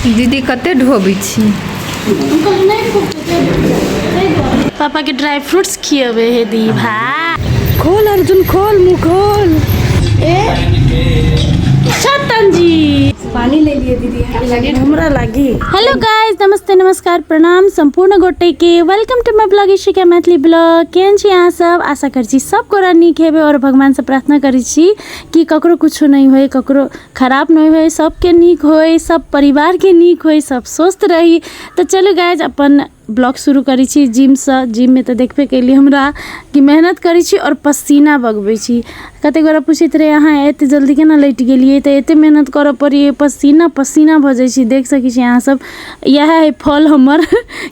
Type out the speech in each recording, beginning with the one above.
दीदी कते ढोबै छी पापा के ड्राई फ्रूट्स खियबे हे दी भाई खोल अर्जुन खोल मुंह खोल ए सतन जी पानी ले लिए दीदी लगे हमरा लगी हेलो गाइस नमस्ते नमस्कार प्रणाम सम्पूर्ण गोटे के welcome to my blog Ishika Maithili blog केहन छी अहाँ सब आशा करै छी सब गोरा नीक हेबै आओर भगवानसँ प्रार्थना करै छी कि ककरो किछो नहि होय ककरो खराब नहि होइ सबके नीक होइ सब परिवारके नीक होइ सब स्वस्थ रही तऽ चलू गाइज अपन ब्लॉग शुरू करै छी जिमसँ जिममे तऽ देखबे कयली हमरा कि मेहनत करै छी आओर पसीना बगबै छी कतेक गोरा पूछैत रहै अहाँ एतेक जल्दी केना लेट गेलियै तऽ एतेक मेहनत करऽ पड़ैए पसीना पसीना भऽ जाइ छी देख सकै छी अहाँसब इएह हइ फल हमर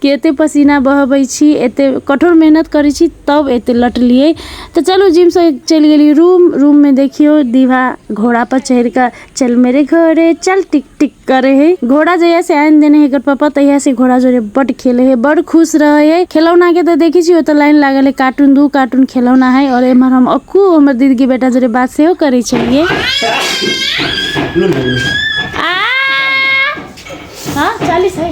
कि एतेक पसीना बहबै छी एतेक कठोर मेहनत करै छी तब एतेक लटलियै तऽ चलू जिमसँ चलि गेली रूम रूममे देखियौ दीवा घोड़ा पर चढ़ि कऽ चल मेरे घोड़े चल टिक टिक करे है घोड़ा जहिया से आनि देने है एकर पापा तहिया से घोड़ा जोरे बड खेले है बड खुश रहे है खिलौना के तऽ देखै छी ओतऽ लाइन लागल है कार्टून दू कार्टून खिलौना है और एम्हर हम अक्कू हमर दीदी के बेटा जोरे बात सेहो करै छलियै आ हाँ चालीस है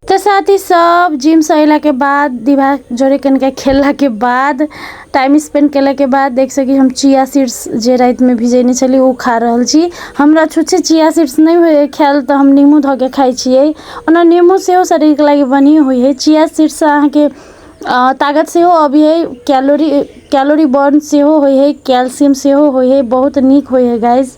तो साथी सब जिम से अला के बाद दिमाग जोड़े के इनका खेलला के बाद टाइम स्पेंड कैला के बाद देख सकी हम चिया सीड्स जे रात में भिजेने छली उ खा रहल छी हमरा छुच्छे चिया सीड्स नहीं हुए खायल तो हम नींबू धो के खाई छिए ओना नींबू से हो शरीर के लागे बनी हुई है चिया सीड्स से अहाँ के अ, ताकत से हो अभी है कैलोरी कैलोरी बर्न से हो हुई है कैल्शियम से हो हुई है बहुत नीक हुई है गाइस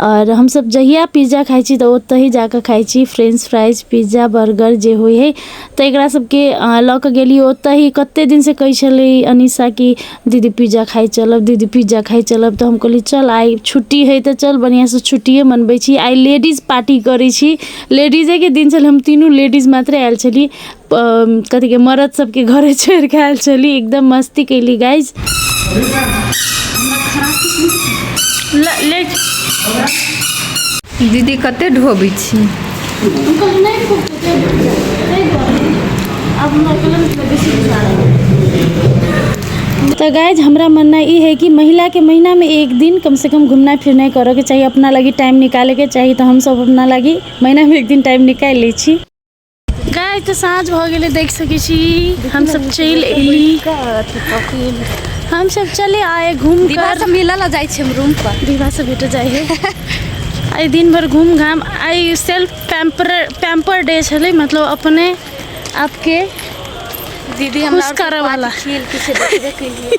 आओर हमसब जहिया पिज्जा खाइ छी तऽ ओतहि जाकऽ खाइ छी फ्रेंच फ्राइज पिज्जा बर्गर जे होइ हइ तऽ एकरा सबके लऽ कऽ गेली ओतहि कते दिनसँ कहै छलै अनीशा कि दीदी पिज्जा खाइ चलब दीदी पिज्जा खाइ चलब तऽ हम कहली चल आइ छुट्टी हइ तऽ चल बढ़िआँसँ छुट्टिये मनबै छी आइ लेडीज पार्टी करै छी लेडीजेके दिन छलै हम तीनू लेडीज मात्रे आयल छली कथी के मरद सबके घरे छोड़ के आयल छली एकदम मस्ती कैली गाइज दीदी कते ढोबै छी तो गाइज हमरा मानना ई है कि महिला के महीना में एक दिन कम से कम घूमना फिरना करे के चाहिए अपना लगी टाइम निकाले के चाहिए तो हम सब अपना लगी महीना में एक दिन टाइम निकाल ले छी गाय तऽ साँझ भऽ गेलै देख सकै छी हमसभ चलि एली हमसभ चले आए घूम दीवार कर सब मिलऽ लऽ जाइ छै हम रूम पर दीवा से भेट जाइ है आइ दिन भर घूम घाम आइ सेल्फ पैम्पर पैम्पर डे छलै मतलब अपने आपके दीदी हमरा खुश करऽ वाला। खेल किछु देखबे केलिए